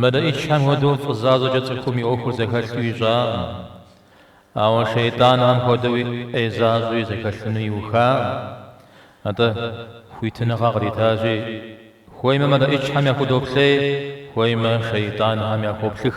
Мэлыӏычхэм хуэдэу фӏы защӏэкӏэ цӏыхум и ӏуэхур зэхэлъу ищӏакъым. Ауэ шейтӏанхэм хуэдэуи ӏей защӏэуи зэхэлъыну иухакъым. Атӏэ, хуитыныгъэ къритащи, хуеймэ мэлыӏычхэм яхудоплъей, хуеймэ шейтӏанхэм яхуоплъых.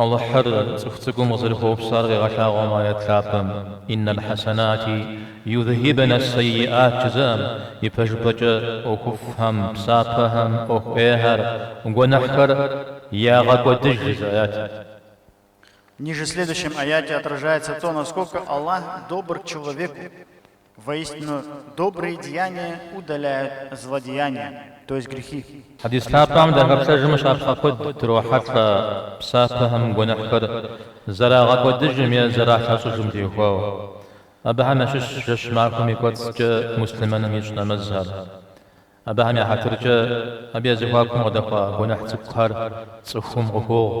Алыхьыр цӏыху цӏыкӏум къызэрыхуэупсар къегъэлъагъуэ мы аят лъапӏэм, Инна ль-хьэсэнати юдхьибна ас-сэйиӏат жызыӏэм, ипэжыпӏэкӏэ ӏуэхуфӏхэм, псапэхэм, ӏуэху ӏейхэр, гуэныхьхэр ягъэкӏуэдыж жызыӏэ аятым. Ниже в следующем аяте отражается то, насколько Аллах добр к человеку. Воистину добрые деяния удаляют злодеяния, то есть грехи. Хьэдис лъапӏэм дыхэплъэжмэ щапхъэ куэд дрохьэлӏэ псапэхэм гуэныхьхэр зэрагъэкӏуэдыжым е зэралъэщӏыжым теухуауэ. Абыхэм ящыщщ жэщ махуэм и кӏуэцӏкӏэ муслъымэным ищӏ нэмэзхэр. Абыхэм я хьэтыркӏэ, абы я зэхуакум къыдэхуа гуэныхь цӏыкӏухэр цӏыхум къыхуогъу.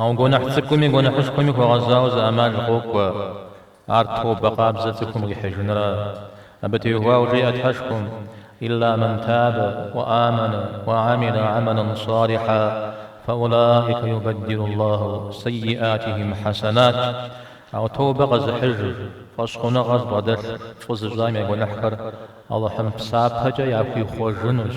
Ауэ гуэныхь цӏыкӏуми гуэныхьышхуэми хуэгъэзауэ зы ӏэмал къокӏуэ, ар тобэ къабзэ цӏыхум къихьыжынра. Абы теухуауэ жеӏэ Тхьэшхуэм, Илла мэн табэ, уэ амэнэ, уэ амилэ амэлэн салихьэ, фэ улаика юбэддилу Аллаху сэйиатихим хьэсэнат. Ауэ тобэ къэзыхьыжыр, фӏэщхъуныгъэ зыбгъэдэлъ фӏы зыщӏам я гуэныхьхэр Алыхьым псапэкӏэ яхуихъуэжынущ.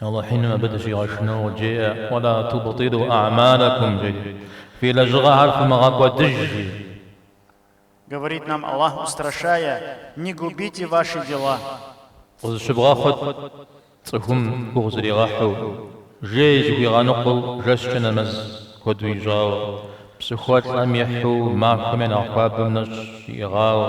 Алыхь Иным абы дыщигъэшынэу къыджеӏэ, Уэла тубтилу а'малэкум, жери, Фи лэжьыгъэхэр фымыгъэкӏуэдыж, жи. Говорит нам Аллах, устрашая, Не губите ваши дела. Къызыщывгъэхъут цӏыхум гугъу зригъэхьу, жей зыхуигъэныкъуэу жэщкӏэ нэмэз куэду ищӏауэ, псыхуэлӏэм ехьу махуэм я нэхъ хуабэм нэщӏ иӏыгъауэ,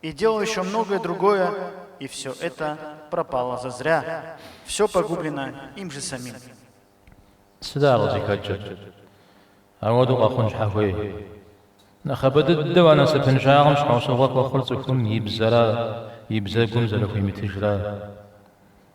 И делал ещё многое другое и всё это пропало зазря всё погублено им же самим. Сыда ар къызыхэкӏыр? Ауэдэу къэхъун щхьэ хуей? Нэхъыбэ дыдэу а насыпыншагъэм щхьэусыгъуэ хуэхъур цӏыхум и бзэра, и бзэгум зэрыхуимытыжра.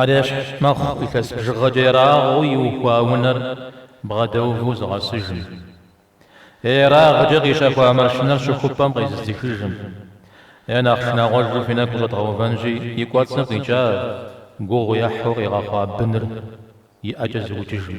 Ар ещхь мэхъу илъэс бжыгъэкӏэ ерагъыу иухуа унэр бгъэдэуву зыгъэсыжым. Е ерагъкӏэ къищэхуа машинэр щыхупӏэм къезыдзыхыжым. Е нэхъ шынагъуэжу фи нэгу щӏэдгъэувэнщи, и кӏуэцӏым къикӏа, гугъу ехьу къигъэхъуа быныр и ӏэкӏэ зыукӏыжым.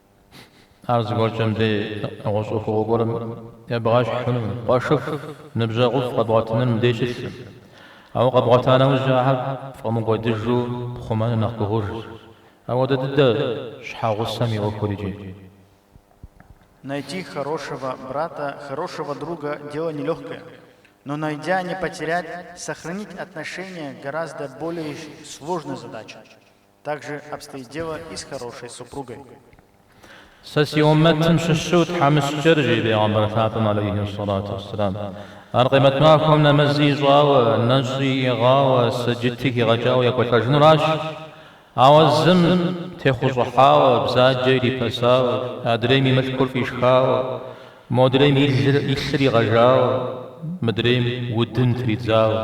Ар зыгуэркӏэ мыбдеж нэгъуэщӏ ӏуэхугъуэ гуэрым ебгъэщхьынумэ, къуэшыфӏ, ныбжьэгъуфӏ къэбгъуэтыныр мытыншщ. Ауэ къэбгъуэта нэужьи ахэр пфӏэмыкӏуэдыжу пхъумэныр нэхъ гугъужщ. Апхуэдэ дыдэщ щхьэгъусэм и ӏуэхури, жи. Найти хорошего брата, хорошего друга дело нелегкое, но найдя не потерять, сохранить отношения гораздо более сложная задача. Так же обстоит дело и с хорошей супругой. Сэ си уммэтым щыщу тхьэмыщкӏэр, жи Бегъымбар лъапӏэм алейхи ссалату уэсселам, ар къемэт махуэм нэмэзи ищӏауэ, нэщӏи иӏыгъауэ, сэджыти хигъэкӏауэ екӏуэлӏэжынуращ. Ауэ зым техъущӏыхьауэ, бзаджэ ирипэсауэ, адрейм и мылъкур фӏишхауэ, модрейм и лъыр игъэжауэ, мыдрейм удын тридзауэ.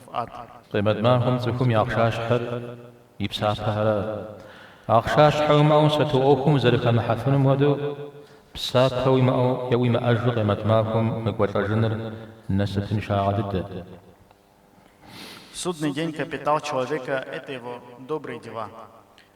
фӏат. Къемэт махуэм цӏыхум и ахъшащхьэр и псапэхэрат. Ахъшащхьэ уимыӏэу сату ӏуэхум узэрыхэмыхьэфынум хуэдэу, псапэ уимыӏэу е уимыӏэжу къемэт махуэм уекӏуэлӏэжыныр насыпыншагъэ дыдэт.